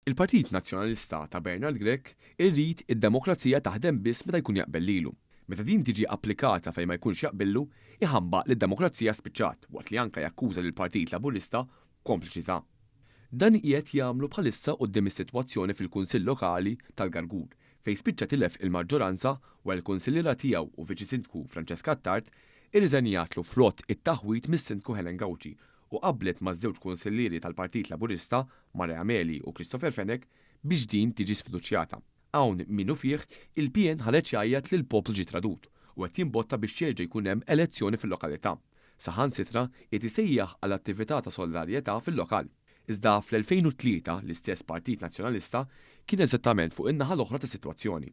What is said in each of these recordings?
Il-Partit Nazzjonalista ta' Bernard Grech irid id-demokrazija taħdem biss meta jkun jaqbel lilu. Meta din tiġi applikata fejn ma jkunx jaqbillu, iħambaq li d-demokrazija spiċċat waqt li anke jakkuża lill-Partit Laburista b'kompliċità. Dan qiegħed jagħmlu bħalissa quddiem is-sitwazzjoni fil-Kunsill Lokali tal-Gargur fejn spiċċa tilef il-maġġoranza wara li l-kunsilliera tiegħu u viċi-sindku Francesca Attard irriżenjatlu frott it-taħwid mis-sindku Helen Gauci u qablet maż-żewġ Kunsillieri tal-Partit Laburista, Mare Ameli u Christopher Fenech, biex din tiġi sfiduċjata. Hawn minufih il-PN ħareġ jgħajjat li l-poplu ġie tradut u qed jimbotta biex jerġa' jkun hemm elezzjoni fil-lokalità. Saħansitra qiegħed isejjaħ għal attività ta' solidarjetà fil-lokal. Iżda fl-2003 l-istess Partit Nazzjonalista kien eżattament fuq in-naħa l-oħra tas-sitwazzjoni.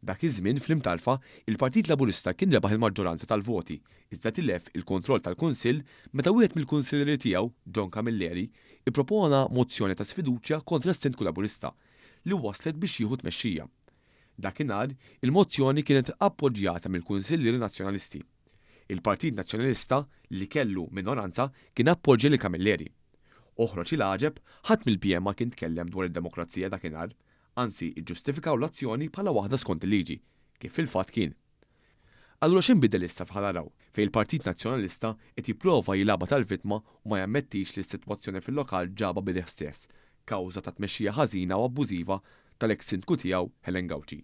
Dak iż-żmien fl-Imtarfa, il-Partit Laburista kien rebaħ il-maġġoranza tal-voti, iżda tilef il-kontroll tal-Kunsill meta wieħed mill-Kunsillieri tiegħu, John Camilleri, ippropona mozzjoni ta' sfiduċja kontra s-Sindku Laburista, li wasslet biex jieħu t-tmexxija. Dakinhar, il-mozzjoni kienet appoġġjata mill-Kunsillieri Nazzjonalisti. Il-Partit Nazzjonalista, li kellu minoranza, kien appoġġja lil Camilleri. Oħroġ il-għaġeb, ħadd mill-PN ma kien tkellem dwar id-demokrazija dakinhar, anzi iġġustifikaw l-azzjoni bħala waħda skont il-liġi, kif fil-fatt kien. Allura x'inbidel issa f'ħa naraw, fejn il-Partit Nazzjonalista qed jipprova jilgħabha tal-vittma u ma jammettix li s-sitwazzjoni fil-lokal ġabha b'idejh stess, kawża ta' tmexxija ħażina u abbużiva tal-eks Sindku tiegħu Helen Gauci.